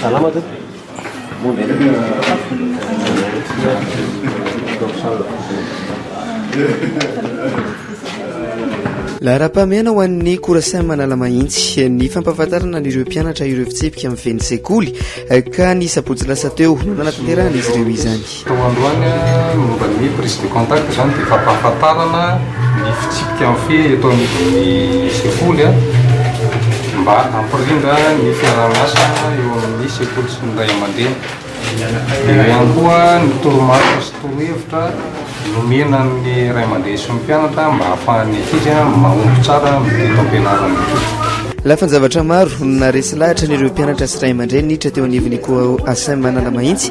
Salama tompoko. Laharam-pahamehana ho an'ny Coursen Manalamahintsy ny fampahafantarana an'ireo mpianatra ireo fitsipika mivehy ny sekoly ka ny sabotsy lasa teo no nanatanterahana izy ireo izany. Tao androany, momba ny hoe prise de contact izany dia fampahafantarana ny fitsipika mifehy eto anivon'ny sekoly mba hampirindra ny fiaraha-miasa eo amin'ny sekoly sy ny ray aman-dreny. Eo ihany koa ny toromarika sy torohevitra nomena amin'ny ray aman-dreny sy ny mpianatra mba hahafahan'ny ankizy mahomby tsara amin'ny teto-am-pianarana. Lafin-javatra maro no naharesy lahatra an'ireo mpianatra sy ray aman-dreny niditra teo anivon'ny COAO Asem Analamahitsy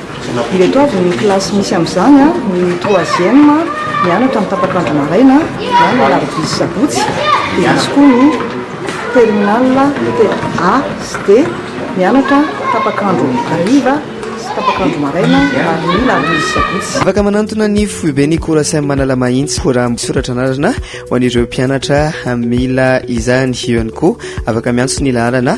Ireto avy ny kilasy misy amin'izany, ny troisième mianatra amin'ny tapak'andro maraina na ny alarobia sy sabotsy, dia misy koa ny terminale A sy D mianatra tapak'andro hariva sy tapak'andro maraina ary ny alarobia sy sabotsy. Afaka manantona ny foiben'ny Courasem Analamahitsy raha misoratra anarana ho an'ireo mpianatra mila izany. Eo ihany koa, afaka miantso ny laharana.